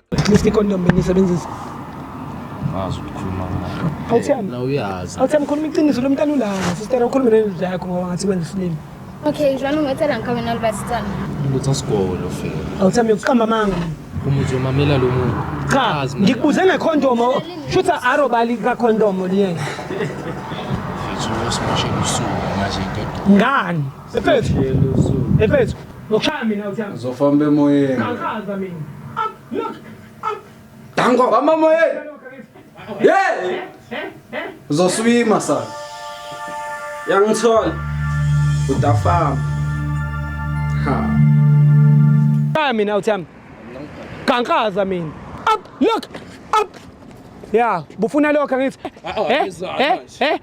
at least icondom bengisebenzisa ngazi ukukhuluma awuthembi na uyazi awuthembi khuluma iqiniso lo mntana ulanga sister ukhulume nendoda yakho ngoba ngathi wenza isilima okay jwalo ngethela ngikhabe nalibasitana ukuthi asigolo fela awuthembi ukuqamba amanga uma uzomamela lo muntu cha Azi, man. ngikubuze ngekhondomo shutha arobali kakhondomo liyena Mfethu, usimoshe usuku manje indoda ngani ephethu ephethu Ngokushaya mina uthi yami. Uzofamba emoyeni. Ngakaza mina. Up, look. Up. Dango bamba emoyeni. Hey! Eh, eh, eh. Uzoswima sa. Yangithola. Utafamba. Ha. Shaya mina uthi yami. Kankaza mina. Up, look. Up. Yeah, bufuna lokho ngithi. Eh, eh, eh.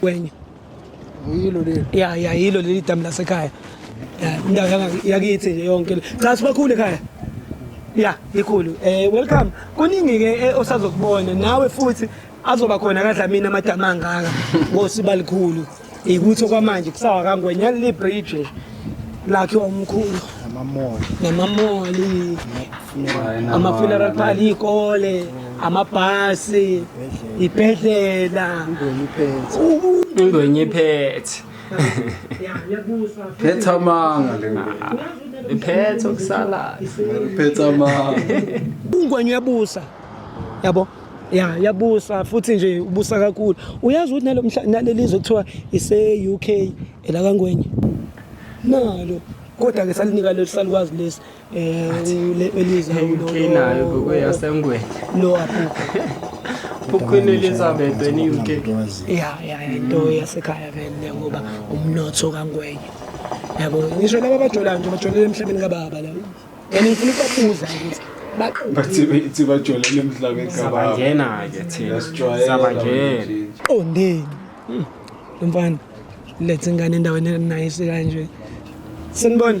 kwenye yilo leli ya ya yilo leli damu lasekhaya indawo yakithi nje yonke cha sibakhulu ekhaya ya ikhulu eh welcome kuningi ke eh, osazokubona nawe futhi azoba khona kadlamini amadamu angaka ngosiba likhulu ikuthi okwamanje kusawa kangwenya libridge lakhiwa umkhulu namamoli namamoli ama-funeral party iy'kole amabhasi ibhedlela ingwenye iphethe phetha amanga le iphethe okusalayo phetha amanga ungwenye uyabusa yabo ya yabusa futhi nje ubusa kakhulu uyazi ukuthi nalo naleli zwe kuthiwa ise-UK elakangwenye nalo kodwa-ke salinika leli salikwazi lesi Eh Eliza unayo gogo yasengweni. Lo apho. Queen Elizabeth weni UK. Yeah yeah into yasekhaya vele ngoba umnotho kangwenye. Yabo ngisho laba bajolayo nje bajolela emhlabeni kababa la. Yena ngifuna ukubuza ukuthi bathi bajolele emhlabeni kababangena ke thina sabangena oh ndini hmm. mfana lethe ingane endaweni enayice kanje senibona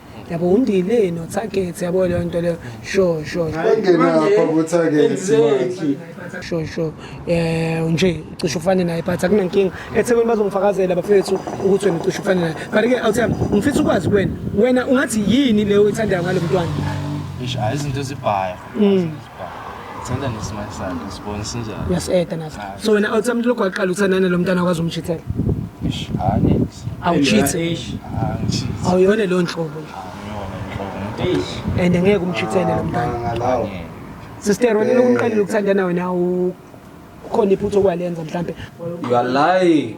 yabo undile no target yabo leyo nto leyo sure sure engena lapha ku target exactly sure sure eh nje ucishe ufane naye but akunankinga ethekwini bazongifakazela bafethu ukuthi wena ucishe ufane naye but ke awuthi ngifisa ukwazi kuwena wena ungathi yini leyo ithandayo ngalomntwana ish izinto ezibhaya mm. Sithanda nesimali sakhe sibone sinjani. Uyaseda nathi. So wena awuthi umuntu lokho waqala uthanda nalo mntana wakwazi umchithela. Ish, ah next. Awuchithe. Ah, ngichithe. Awuyona leyo nhlobo. Ngiyona inhlobo umuntu Eish. And ngeke umchithele lo mntana. Ngalawo. angeke. Sister wena lokhu umqalile ukuthandana wena awu khona iphutha okwalenza mhlambe. You are lying.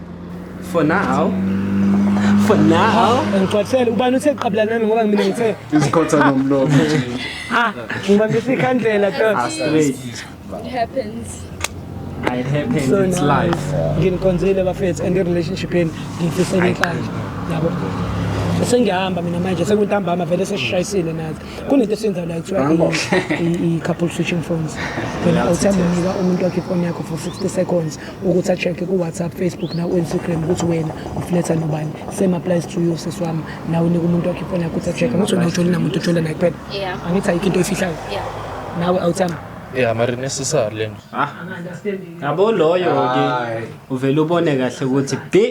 For now. For now. Ngixoxele ubani uthe qabla nami ngoba mina ngithe izikhotha nomlomo nje. Ah, ngibambisa ikhandlela to. Ah, straight. It happens. It happens. So it's life. Nginikonzile bafethu and relationship yenu ngifisela inhlanhla. Yabo. Sengihamba mina manje sekuntambama vele sesishayisile nathi. kunento esiyenza la kuthiwa i-couple switching phones wena awuthanda unika umuntu wakhe ifoni yakho for 60 seconds ukuthi a-check-e ku-whatsapp facebook naku-instagram ukuthi wena ufletha nobani same applies to you sisi wami nawe unika umuntu wakhe ifoni yakho ukuthi a-check-e angithi wena ujola namuntu ujola naye kuphela angithi ayikho into oyifihlayo nawe awuthanda ya mari necessary le nto ah. yabo loyo-ke uvele ubone kahle ukuthi bi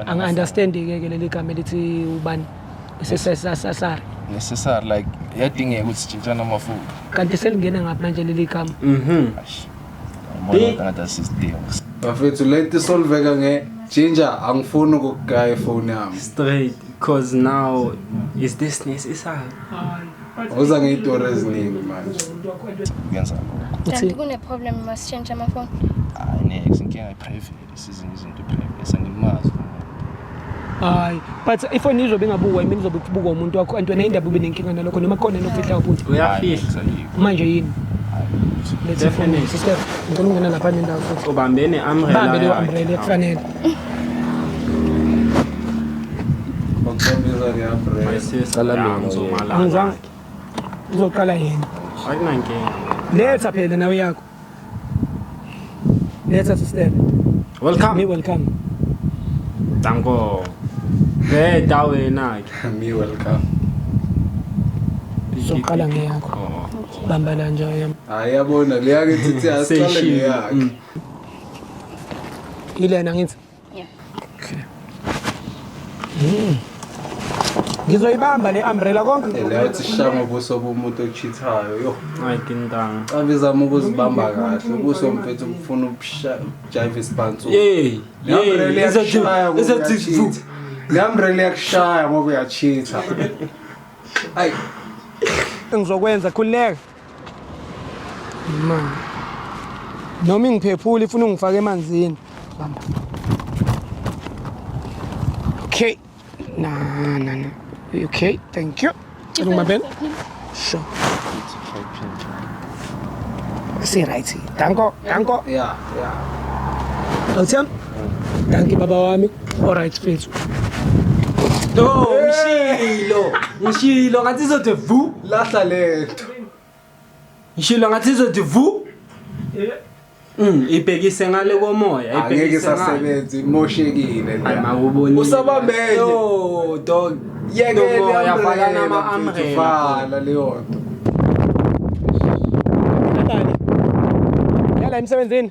angi-understandi-ke ke leli gama elithi ubani isesasasari necessary like yadingeka ukuthi sitshintshane amafutha kanti selingene ngaphi manje leli gama mhm bafethu leti solveka nge ginger angifuni ukugaya ifoni yami straight cause now is this necessary uza ngey'tori eziningi manje uyenza lokho uthi kuneproblem masishintshe amafoni hayi nex inkinga iprivate Isizini izinto private angimazi. Hayi, but if one izobe ingabukwa yimi nizobe kubukwa umuntu wakho and wena indaba ube nenkinga nalokho noma khona nokufihla ubuntu. Uyafihla. Manje yini? Let's Definitely. Sister, ngicela ungena lapha nendawo futhi. Ubambene umbrella. Bambe le umbrella ekufanele. Ngokubiza ke umbrella. My sister, ngizomala. Angizange. Uzoqala yena. Akunankinga. Letha phela nawe yakho. Letha sister. Welcome. Me welcome. Danko. Hey, dawe nake. Me welcome. Soqala ngeyakho. Oh. Bamba la nje yami. Hayi yabona leya ke thithi asiqale ngeyakhe. Ilena ngithi Yeah. Okay. Mm. ngizoyibamba le umbrella konke leyothi shanga ubuso bomuntu ochithayo yo hayi kintanga cabizama ukuzibamba kahle ubuso mfethu bufuna ukujayiva isibhansu yey ngamrele yakushaya ngoba uyachitha ayi ngizokwenza khululeka Ma. Noma ingiphephula ifuna ungifake emanzini. Bamba. Okay. Na na na. Okay, thank you. Cela ungibambele. Sure. Si right. Danko, danko. Yeah, yeah. Awuthembi? Danki baba wami. All right, mfethu. No, ngishilo. Ngishilo ngathi izothe vu. Lahla lento. Ngishilo ngathi izothi vu. Yeah. Mm, ibhekise ngale komoya, Angeke ibhekise ngale. isasebenza imoshekile Hayi la. mawubonile. Usabambele. Yo, dog. Yekele Lomoya, umbrella, falana ama mfethu, umbrella. Vala leyo nto. Yala emsebenzini.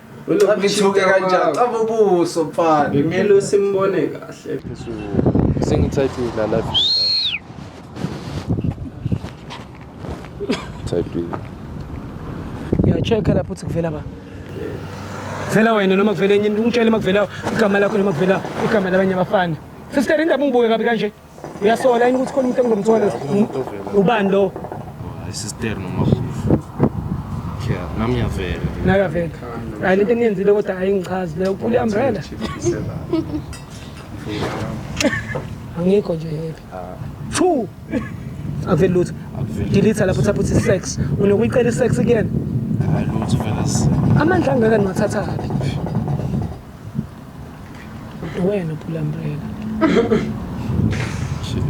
Ngithuke kanjani? Caba ubuso mfana. Ngimele usimbone kahle. Sengithathile la life. Thathile. Ngiyacheck-a lapho ukuthi kuvela ba. Vela wena noma kuvela enye into ungitshele uma kuvela igama lakho noma kuvela igama labanye abafana. Sister indaba ungibuke kabi kanje. uyasola yini ukuthi khona umuntu engilomthwalo ubani lo isister noma Yeah, nami ngiyavela. Nayo avela. Hayi lento eniyenzile kodwa hayi ngichazi leyo uphula i-umbrella. Angikho nje happy. Two. Akuveli lutho. Delete lapho thapha uthi sex. Unokuyicela i-sex kuyena. Hayi lutho vela. Amandla angaka niwathatha kabi. Wena uphula umbrella.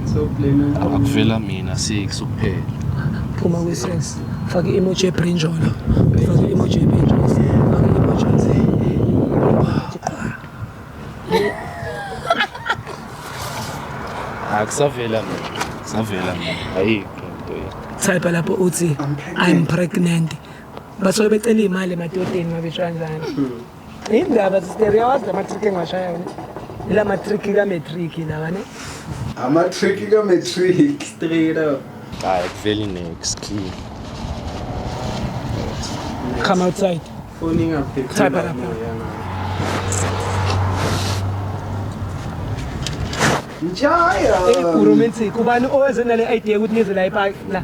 So blame it. Akuvela mina six kuphela. Phuma kwi sex. Faka i-emoji ebrinjolo. Faka i-emoji ebrinjolo. Faka i-emoji nze. Akusavela mina. Savela mina. Ayikho into yini. Type lapho uthi I'm pregnant. Basuke becela imali emadodeni mabetshwa kanjani. Indaba sister yawazi la matrick engiwashaya wena. Ila matrick ka matrick lawa ne. Amatrick ka matrick. Straight up. Hayi akuveli nex clean. Come outside. Foni ingaphephile. Type lapha. Njaya. Hey, Romantic, ubani oweze nale idea ukuthi nize la epaki la?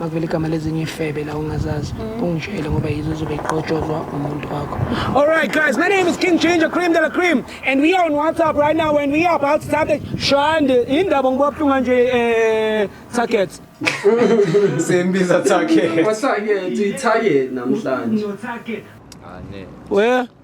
makuvele igama lezinye ifebe la ungazazi mm. ungitshele ngoba yizo zobe iqotshozwa umuntu wakho all right guys my name is king ginger cream de la cream and we are on whatsapp right now and we are about to start the shande indaba ngiba buhlunga nje eh target sembiza target wasake target namhlanje no target ane ah, we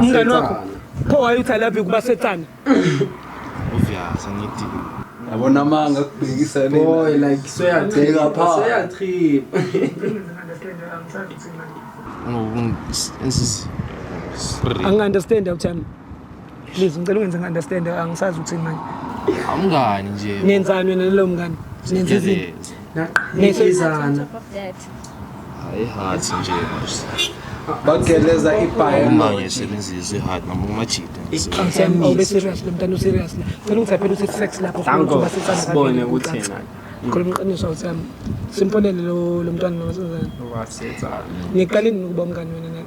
umngane wakho pho wayeuthi love you kubasethane uvyasa ngithi yabona amanga kubhekisa boy like soyadeka pha soyatrip angi-understand awuthami please ngicela ungenze ngi-understand angisazi ukuthini manje awumngani nje nenzani wena nalowo mngani nenza izinto naqhizana Hayi heart nje manje. bageleza ibhayo uma ngisebenzisa i-hard noma umajida obeserious lo mntana userious la cela ukuthi aphela uthi sex lapho sibone ukuthi khona umqiniso awuthi yami simponele lo mntwana nomasazana ngiqale nini ukuba umngane wena naye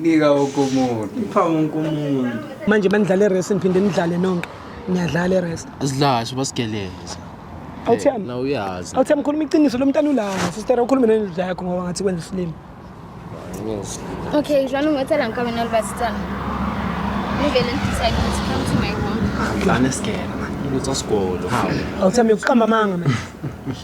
nika wonke umuntu ipha wonke umuntu manje manidlale rest niphinde nidlale nonke niyadlala rest asidlashe basigeleze awuthiyami na uyazi awuthiyami khuluma iqiniso lo mntana ulanga sister ukhulume nendoda yakho ngoba ngathi kwenza isilimu okay jwani ungethela nkabe nalibasitana ngivele ngidisa ukuthi come to my home lana sigela manje lutsa sigolo awuthiyami yokuqamba amanga manje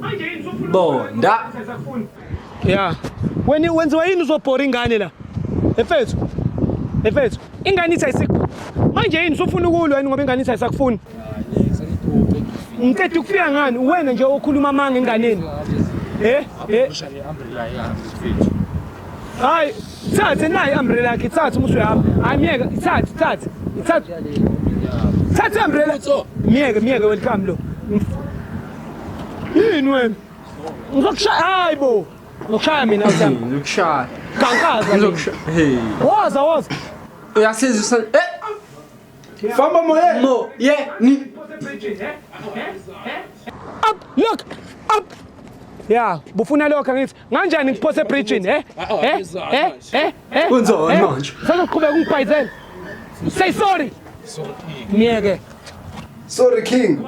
Manje yini sofuna Bonda. Yeah. Wena wenziwa yini uzobhora ingane la? Efethu. Efethu. Ingane ithi ayisik. Manje yini sofuna ukulwa yini ngoba ingane ithi ayisakufuni? Ngicela ukufika ngani uwena nje okhuluma amanga enganeni. Eh? Eh? Hayi, thathe nayi umbrella yakhe, thathe uma usuyahamba. Hayi myeke, thathe, thathe. Thathe. Thathe umbrella. Myeke, myeke welcome lo. Yini wena? Ngizokushaya hayi bo. Ngizokushaya mina uthemba. Ngizokushaya. Kankaza. Ngizokushaya. Hey. Woza woza. Uyasiza usan. Eh. Famba moye. Mo. Ye. Ni. Up. Look. Up. Yeah, bufuna lokho ngithi. Nganjani ngiphose bridging, eh? Eh? Eh? Eh? Eh? Kunzona eh? manje. Sazoqhubeka ungibhayizela. Say sorry. Sorry. Ngiyeke. Sorry King.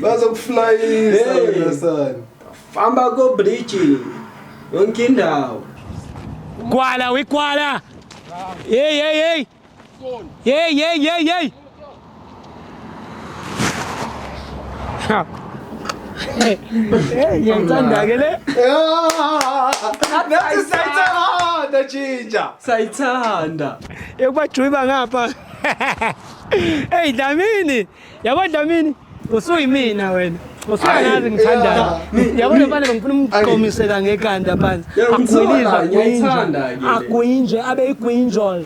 Bazokuflyisa wena sana. Famba ko bridge. Yonke indawo. Kwala wikwala. Hey hey hey. Yey yey yey yey. Ngiyayithanda ke le. Nathi sayithanda jinja. Sayithanda. Yokubajuyiba ngapha. Hey Dlamini. Yabo Dlamini. Usuyimina wena. Usuyazi ngithandayo. Yabo le bale ngifuna umqomisela ngekanda phansi. Akuyizwa ngiyithanda. Akuyinje abe igwinjol.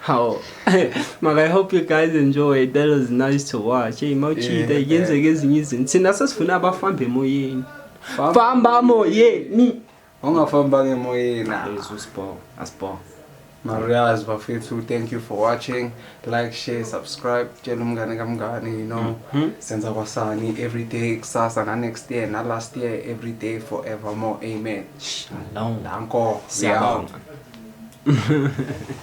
How? Maka, I hope you guys enjoyed. That was nice to watch. Hey, mawuchita yeah, yenzeka yeah. ezinye izinto. Thina sesifuna abafamba emoyeni. Famba emoyeni. Ungafamba emoyeni. Jesus bo, asbo. Marias bafethu, thank you for watching. Like, share, subscribe. Tshela umngane kamngane, you know. Mm -hmm. Senza kwasani every day kusasa na next year na last year every day forevermore. Amen. Shalom. Danko. Shalom.